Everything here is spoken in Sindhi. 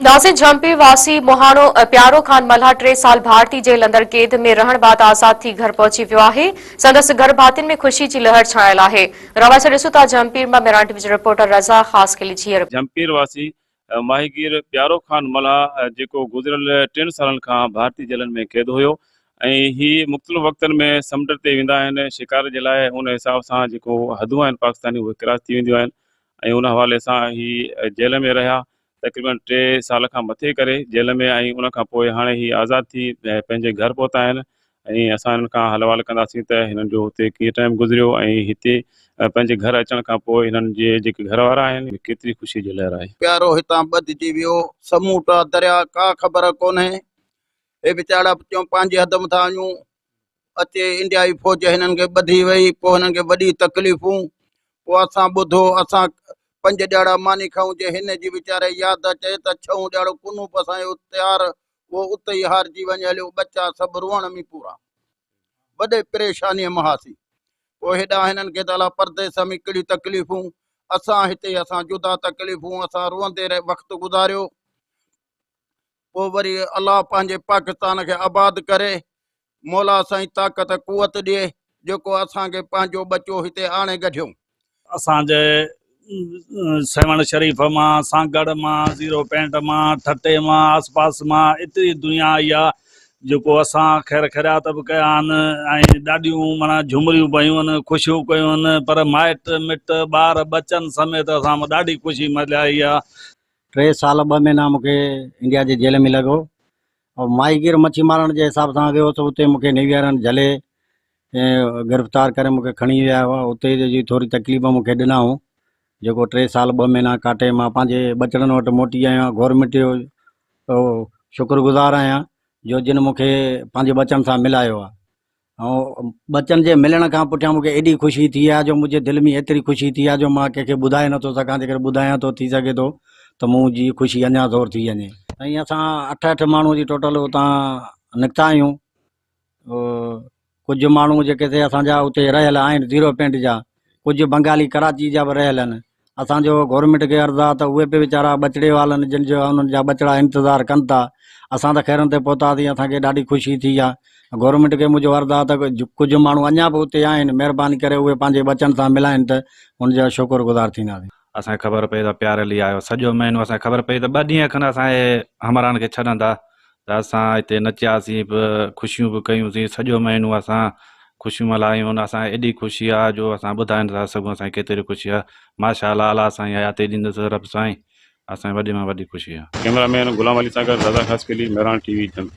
ناصر جھمپي واسي مهاڻو پيارو خان ملهه ٽي سال ڀارتي جيل اندر قيد ۾ رهڻ بعد آزاد ٿي گهر پهچي ويو آهي، سندس گهر ڀاتين ۾ خوشي جي لهر ڇانيل آهي. روايت ڏسو ٿا جھمپير مان ميران ٽي وي جي رپورٽر رضا خاصخيلي جي رپورٽ. جھمپير واسي ماهيگير پيارو خان ملهه جيڪو گذريل ٽن سالن کان ڀارتي جيلن ۾ قيد هيو ۽ هي مختلف وقتن ۾ سمنڊ تي ويندا آهن شڪار جي لاء ان حساب سان جيڪو حدون آهن پاڪستاني اهي ڪراس ٿي وينديون آهن ۽ ان حوالي سان هي جيل ۾ رهيا تقريبن ٽي سال کان مٿي ڪري جيل ۾ آهي ان کان پوء هاڻي هي آزاد ٿي پنهنجي گهر پهتا آهن ۽ اسان هنن کان حل احوال ڪنداسين ته هنن جو هتي ڪيئن ٽائيم گذريو ۽ هتي پنهنجي گهر اچڻ کان پوء هنن جي جيڪي گهر وارا آهن ڪيتري خوشي جو لهر آهي. پيارو هتان ٻڌجي ويو سموٽا دريا ڪا خبر ڪونهي هي وچاڙا ٻچون پنهنجي حد مٿان آيون اچي انڊيائي فوج هنن کي ٻڌي وئي پوء هنن کي وڏي تڪليفون پوء اسان ٻڌو اسان پنج ڏياڙا ماني کائون جي هن جي ويچاري ياد اچي ته ڇهون ڏياڙو ڪنوپ اسان جو تيار اهو اتي ئي هارجي وڃي هليو ٻچا سڀ روئڻ ۾ پورا وڏي پريشاني ۾ هئاسين پوء هيڏانهن هنن کي ته الا پرديس ۾ ڪهڙي تڪليفون اسان هتي اسان جدا تڪليفون اسان روئندي رهي وقت گذاريو پوء وري الله پنهنجي پاڪستان کي آباد ڪري مولا سائين طاقت قوت ڏي جيڪو اسان کي پنهنجو ٻچو هتي آڻي گڍيو. اسان جي سيوهڻ شريف مان سانگهڙ مان زيرو پينٽ مان ٺٽي مان آس پاس مان ايتري دنيا آئي آ جيڪو اسان خير خيرات به ڪيا آهن ۽ ڏاڍيون معنيٰ جهومريون به هيون آهن خوشيون ڪيون آهن پر مائٽ مٽ ٻار ٻچن سميت اسان ڏاڍي خوشي ملهائي آ. ٽي سال ٻه مهينا مون کي انڊيا جي جيل ۾ لڳو ۽ ماهي گير مڇي مارڻ جي حساب سان ويو هوس اتي مون کي نيوي وارن جهلي گرفتار ڪري مون کي کڻي ويا هئا اتي جي ٿوري تڪليف مون کي ڏنائون جيڪو ٽي سال ٻه مهينا ڪاٽي مان پنهنجي ٻچڙن وٽ موٽي آيو آهيان گورمينٽ جو شڪر گذار آهيان جو جن مون کي پنهنجي ٻچن سان ملايو آهي هائو، ٻچن جي ملڻ کان پٺيان مون کي ايڏي خوشي ٿي آهي جو منهنجي دل ۾ ايتري خوشي ٿي آهي جو مان ڪنهن کي ٻڌائي نٿو سگهان، جيڪڏهن ٻڌايان ٿو ٿي سگهي ٿو ته مون جي خوشي اڃا زور ٿي وڃي. سائين اسان اٺ اٺ ماڻهو جي ٽوٽل اتان نڪتا آهيون، ڪجهه ماڻهو جيڪي سي اسان جا اتي رهيل آهن زيرو پنڊ جا، ڪجهه بنگالي ڪراچي جا به رهيل آهن، اسان جو گورنمينٽ کي عرض آ ته اهي به ويچارا ٻچڙي والن جن جو انهن جا ٻچڙا انتظار ڪن ٿا اسان ته خيرن تي پهتاسين اسان کي ڏاڍي خوشي ٿي آ گورنمينٽ کي منهنجو عرض آ ته ڪجهه ماڻهو اڃا به اتي آهن مهرباني ڪري اهي پنهنجي ٻچن سان ملائن ته ان جا شڪر گذار ٿينداسين. اسان کي خبر پئي ته پياري علي آيو سڄو مهينو اسان کي خبر پئي ته ٻه ڏينهن کن اسان جي همراهن کي ڇڏندا ته اسان اتي نچياسين به، خوشيون به ڪيون سين، سڄو مهينو اسان خوشيون ملهايون، اسان کي ايڏي خوشي آ جو اسان ٻڌائي نٿا سگهون اسان کي ڪيتري خوشي آ، ماشاء الله اعليٰ اسان جي حياتي ڏيندس رب سائين، اسان کي وڏي مان وڏي خوشي آ. ڪئميرا مين غلام علي سان گڏ رضا خاصخيلي، مهراڻ ٽي وي، جھمڪي.